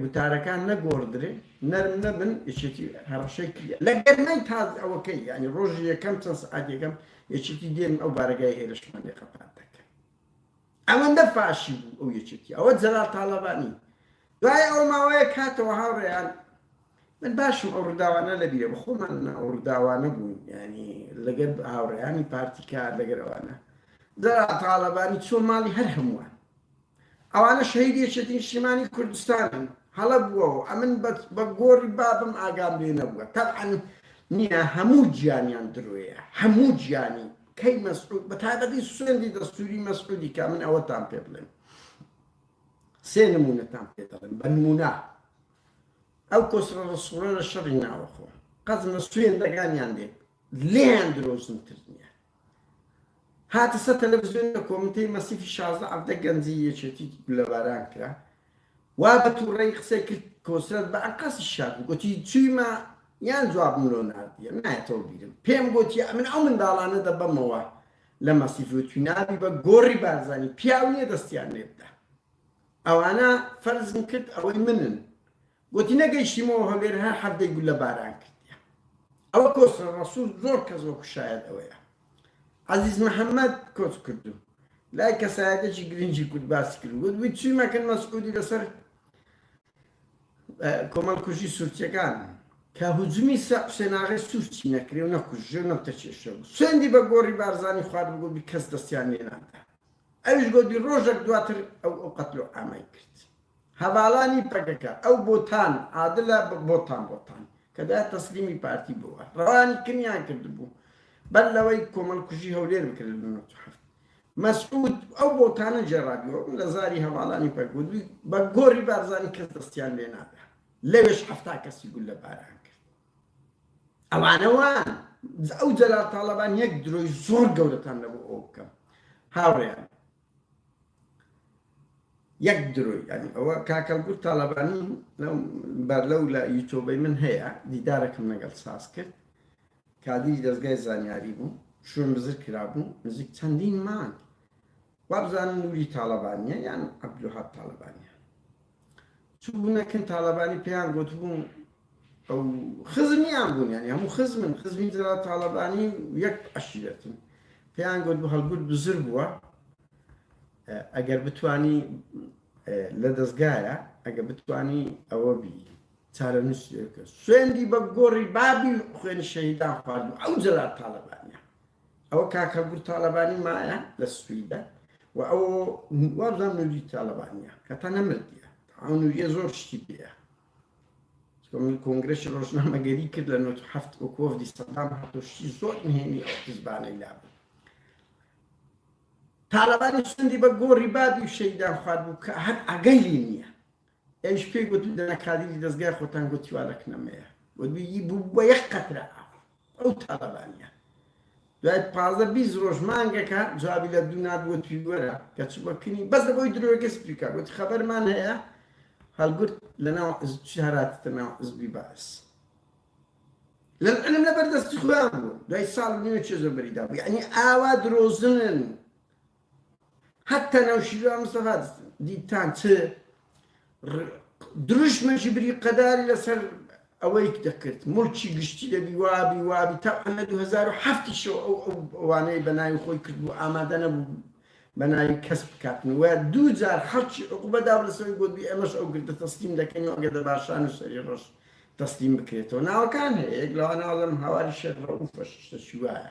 وتارەکان نەگۆڕدرێ نەرم نەبن یەکێتی هەڕەشەی کردیە لە گەرمای تازە ئەوەکەی یانی ڕۆژی یەکەم چەند سەعات یەکەم یەکێتی دێن ئەو بارەگای هێرشمان لێ قەپات دەکەن ئەوەندە فاشی بوو ئەو یەکێتی ئەوە جەلال تاڵەبانی دوای ئەو ماوەیە کاتەوە هاوڕێیان من باشم ئەو ڕداوانە لە بیرە بەخۆمان نە ئەو ڕداوانە بوون ینی لەگەر هاوڕێیانی پارتیکار لەگەرەوانە جەرا تاالبانی چۆ ماڵی هەر هەمووان ئەوانە شەهیدی یەکێتی نیشتیمانی کوردستانن هەڵە بووەوە ئەمن بە گۆڕی بابم ئاگام لێ نەبووە تەبعەن نییە هەموو گیانیان درۆیە هەموو گیانی کەی مەسعود بە تایبەتی سوێندی دەستوری مەسعودی کە من ئەوەتان پێ بڵێم سێ نمونەتان پێ دەڵێم بە نمونە ئەو کۆسرە ڕسوڵە لە شەڕی ناوەخۆ قەزمە سوێندەکانیان دێت لێیان درۆزنتر نییە هاتە سەر تەلەفزیۆن لە کۆمیتەی مەسیفی شازدە عەڤدە گەنجی یەکێتی گولەباران کرا وا بە توڕەیی قسەی کرد کۆسرەت بە ئەنقەستی شاد بوو گۆتی چویمە یان جوابم لۆ ناردیە نایەتەوە بیرم پێم گۆتی ئەمن ئەو منداڵانە دەبەمەوە لە مەسیف وتوی نابی بە گۆڕی بارزانی پیاو نیە دەستیان لێبدا ئەوانە فەرزم کرد ئەوەی منن گۆتی، نەگەیشتیمەوە هەولێر هەر حەفتەی گوللە باران کردیە. ئەوە کۆسرە ڕەسوڵ زۆر کەس وەکو شایەد ئەوەیە. عەزیز محەمەد کۆچ کردو لای کەسایەتێکی گرنگی کورد باسی کرد و گۆتبوی چویمە کن مەسعودی لەسەر کۆمەڵکوژی سورچەکان کە هجومی سە حسێناغێ سورچی نەکرێ و نەکوژرێ و نەوتە کێشرێ و سوێندی بە گۆڕی بارزانی خوارد و گۆتبی کەس دەستیان لێنادا. ئەویش گۆتی ڕۆژەک دواتر ئەو ئەو قەتل و عامەی کرد. هەڤالانی پەکەکە، ئەو بۆتان، عادلە بۆتان بۆتان، کە دایە تەسلیمی پارتی بووە، ڕەوانی کمیان کردبوو، بەر لەوەی کۆمەڵکوژی هەولێر بکرێت لە نەوەد و حەفت. مەسعود ئەو بۆتانە گێڕابیوە و لە زاری هەڤالانی پەکەکە گۆتی، بە گۆڕی بارزانی کەس دەستیان لێ نادا. لەوێش حەفتا کەسی گوللەباران کرد. ئەوانە وان ئەو جەلال تاڵەبان یەک درۆی زۆر گەورەتان لە بۆ ئەو بکەم هاوڕێیان یەک درۆی ینی ئەوە کاکەلگوت تاالبانی بەر لەو لە یوتۆبەی من هەیە دیدارەکەم لەگەڵ ساز کرد کادری دەستگای زانیاری بوو شوێن بزر کرابوو نزیک چەندین مانگ وابزانم نوری تاڵەبانیە یان عبدالوهاب تاڵەبانیە چوونە کن تاڵەبانی پێیان گوتبوون ئەو خزمیان بوون یانی هەموو خزمن خزمی جەلال تاڵەبانی یەک عەشیرەتن پێیان گوت بە هەڵگوت بزر بووە ئەگەر بتانی لە دەستگایە ئەگە بتانی ئەوە بی چارە نووسێکە سوێندی بە گۆڕی بابی خوێن شەهیدان خوارد ئەو جەلال تاڵەبانیە ئەوە کاک هەڵگورد تاڵەبانی مایە لە سویدە و ئەو وابزان نوری تاڵەبانیە کە تا نەمردە ئەو نوریە زۆر شتی پێە من کۆنگرەشی ڕۆژنامەگەری کرد لە 1970 و کۆفدی سەدام هاتۆشتی زۆر نهێنی ئەو حزبانەی لابوو تاالبانی سندی بە گۆڕی بابی و شەیدان خوارد بوو کە هەر ئەگەلی نییە ئێش پێی گوتم دەنا کادیری دەزگای خۆتان گوتی وا لە کنەمەیە وەدویی بوو بە یەک قەترە ئاو ئەو تاالبانە دوای پازە بیست ڕۆژ مانگەکە جوابی لە دوو نادوە تویوەرە کە چوە کنی بەس لە بۆی درۆگە سپیکە گوتی خەبەرمان هەیە هەڵگرت لە ناو هەراتتە ناو عزبی باس لەم علم لە بەردەستی خۆیان بوو دوای ساڵ نیوە چێزۆ بەریدا بوو یعنی ئاوا درۆزنن حەتتا نەوشیروان مستەفا دیتان چ دروشمێکی بری قەداری لەسەر ئەوەی دەکرد ملکی گشتی دەبی وابی وابی تا ئەنە 2007شەوە ئەو ئەوانەی بەناوی خۆی کرد و ئامادە نەبوو بەناوی کەس بکاتن وە دوو جار حەڵکی عقوبەدا لەسەوەی بۆ دوی ئەمەش ئەو گردە تەسلیم دەکەین ئەگە دە باشان و سەری ڕۆژ تەسلیم بکرێتەوە ناوەکان هەیەک لەوانەوە لەم هاواری شێخ ڕەوفەش شتەشی وایە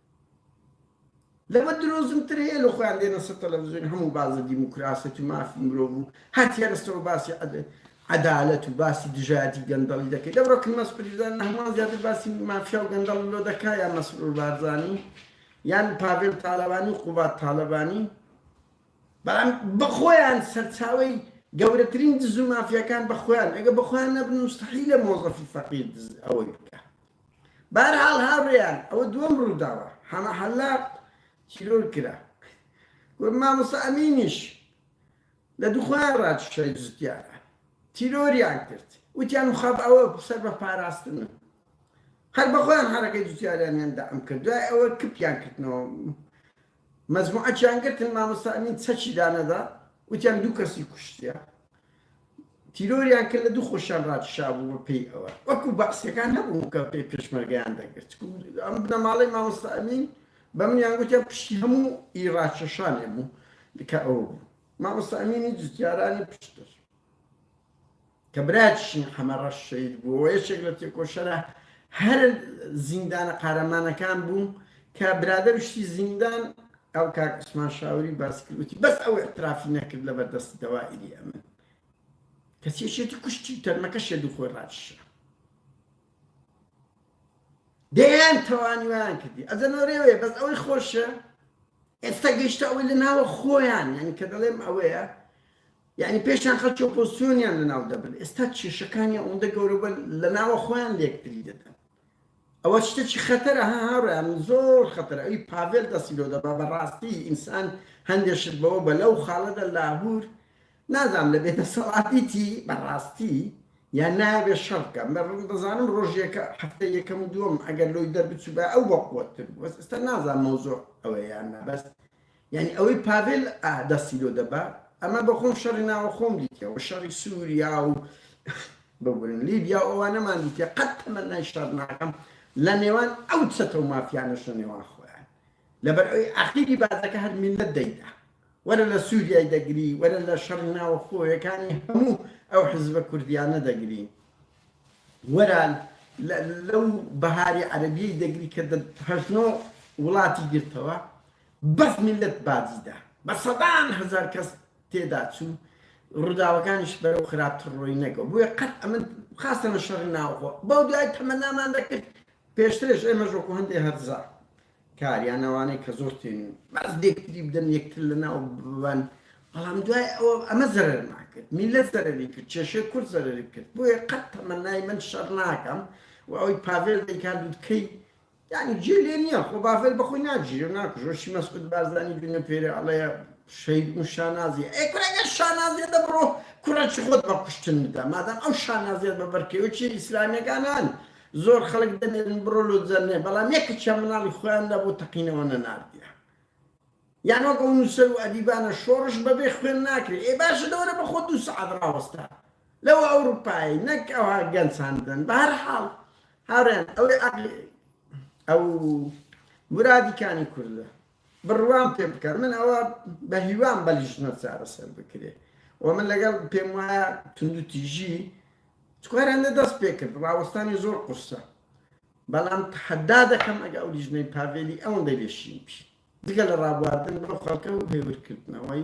لەمە درۆزنتر هەیە لۆ خۆیان دێنە سەر تەلەفزیۆن هەموو بازە دیموکراسیەت و مافی مرۆڤ و هەر تێرستەوە باسی عەدالەت و باسی دژایەتی گەندەڵی دەکەی دەبڕۆ کن مەسپریزان لە هەمان زیاتر باسی مافیا و گەندەڵ لۆ دەکا یان مەسرور بارزانی یان پاڤێل تالەبانی و قوبات تالەبانی بەڵام بەخۆیان سەرچاوی گەورەترین دز و مافیاکان بەخۆیان ئەگە بەخۆیان نەبن مستحیلە مۆزەفی فەقیر دز ئەوەی بکە بەهەرحاڵ هاوڕێیان ئەوە دووەم ڕووداوە حەمە حەلاق تیرۆر کرا و مامۆستا ئەمینیش لە دوخۆیان ڕاکێشای جوتیاران تیرۆریان کرد وتیان مخاب ئەوە سەر بە پاراستنە هەر بەخۆیان حەرەکەی جوتیاریانیان دەعم کرد دوای ئەوە کپیان کردنەوە مەجموعەکیان گرتن مامۆستا ئەمین چەکی دانەدا وتیان دوو کەسی کوشتیە تیرۆریان کرد لە دوو خۆشیان ڕاکشابوو بە پێی ئەوە وەکو بەعسیەکان نەبوو کە پێی پێشمەرگیان دەگرت ئەم بنەماڵەی مامۆستا ئەمین بە منیان گوتیان پشتی هەموو ئی ڕاکێشانێ بوو کە ئەوە بوو مامۆستا ئەمینی جوتیارانی پشتر کە برایەتیشی حەمە ڕەش شەهید بووە و یەکێک لە تێکۆشەرە هەرە زیندانە قارەمانەکان بوو، کە برادەر شتی زیندان ئەو کاک عوسمان شاوری باسی کرد وتی بەس ئەو ئیعترافی نەکرد لەبەر دەستی دەوائیری ئەمن کەچی یەکێتی کوشتی و تەرمەکە شێد و خۆی ڕاکیشا دەیان توانیویان کردی ئەزەنەوە رێوێ بەس ئەوەی خۆشە ئێستا گەیشتە ئەوەی لە ناوە خۆیان یعنی کە دەڵێم ئەوەیە یانی پێشیان خەلکی ئۆپۆزسیۆنیان لەناو دەبرد ئێستا کێشەکانی ئەوەندە گەورەبن لەناوە خۆیان لێکتری دەدەن ئەوە شتێکی خەتەرە ها هاوڕیان زۆر خەتەر ئەوی پاڤێل دەستی لۆ دەبا بەڕاستی ئینسان هەندێک شت بەوە بە لەو خاڵەدا لاهور نازام لە بێدەسەڵاتیتی بەڕاستی یان نابێ شەڕ بکەم بە ڕم دەزانم ڕۆژێکە هەفتە یەکەم و دووەم ئەگەر لۆی دەربچوو بە ئەو بەقوەتر بەس ئێستا نازان مەوزۆ ئەوەیان نەبەست یانی ئەوەی پاڤێل ئا دەستی لۆ دەبا ئەمە بە خۆم شەڕی ناوە خۆم دیتیە وە شەڕی سوریا و ببورن لیبیا و ئەوانەمان دیتیە قەت تەمەنای شەڕ ناکەم لە نێوان ئەو چەتە و مافیانەش لە نێوان خۆیان لەبەر ئەوی ئاخیری بازەکە هەر میللەت دەیدا وەرە لە سووریای دەگری وەرە لە شەڕی ناوە خۆیەکانی هەموو ئەو حزبە کوردیانە دەگری وەرە لەو بەهاری عەربیەی دەگری کە هەشنۆ وڵاتی گرتەوە بەس میللەت باجی دا بە سەدان هەزار کەس تێدا چوو ڕوداوەکانیش بەرەو خراپتر ڕۆی نەگەو بویە قەت ئەمن خاستەنە شەڕی ناوخۆ بەو دوای تەمەنامان دەکرد پێشترش ئێمەش وەکو هەندێ هەرزا کاریان ئەوانەی کە زۆر تێنین بەس دێکتری بدەن یەکتر لە ناو ببەن بەڵام دوای ئەوە ئەمە زەرەر ناکرد میلەت زەرەری کرد کێشەی کورد زەرەری کرد بۆیە قەت تەمەنای من شەڕ ناکەم و ئەوەی پاڤێل دەیکات دوتکەی یانی جێ لێ نیە خۆ باڤێل بەخۆی ناگیرێ و ناکوژێ چی مەسعود بارزانی دوو نەفێرێ ئەڵێ شەهید و شانازیە ئەی کورە گەر شانازیە دە بڕۆ کوڕێکی خۆت بە کوشتن بدە مادام ئەو شانازیەت بە بەرکەوێکی ئیسلامیەکان هەن زۆر خەڵک دەمێنن بڕۆ لۆ جەرنێ بەڵام یەکێکیان مناڵی خۆیان نەبوو تەقینەوە نەناردیان یان وەک ئەو نوسەر و ئەدیبانە شۆڕش بەبێ خوێن ناکرێ ئێ باشە دەوەرە بەخۆت دوو سەعات ڕاوەستە لەو ئەوروپایەی نەک ئەوها گەنج هان بدەن بەهەرحاڵ هاوڕێیان ئەوەی عەقڵی ئەو مرادی کانی کوردە بڕوام پێ بکەن من ئەوە بە هیوام بەلیژنە چارەسەر بکرێ و من لەگەڵ پێم وایە توندوتیژی چکارانە دەست پێ کرد ڕاوەستانی زۆر قورسە بەڵام تەحەدا دەکەم ئەگە ئەو لیژنەی پاڤێلی ئەوەندەی لێ شین بی جگە لە ڕابواردن بەو خەڵکە و هێورکردنەوەی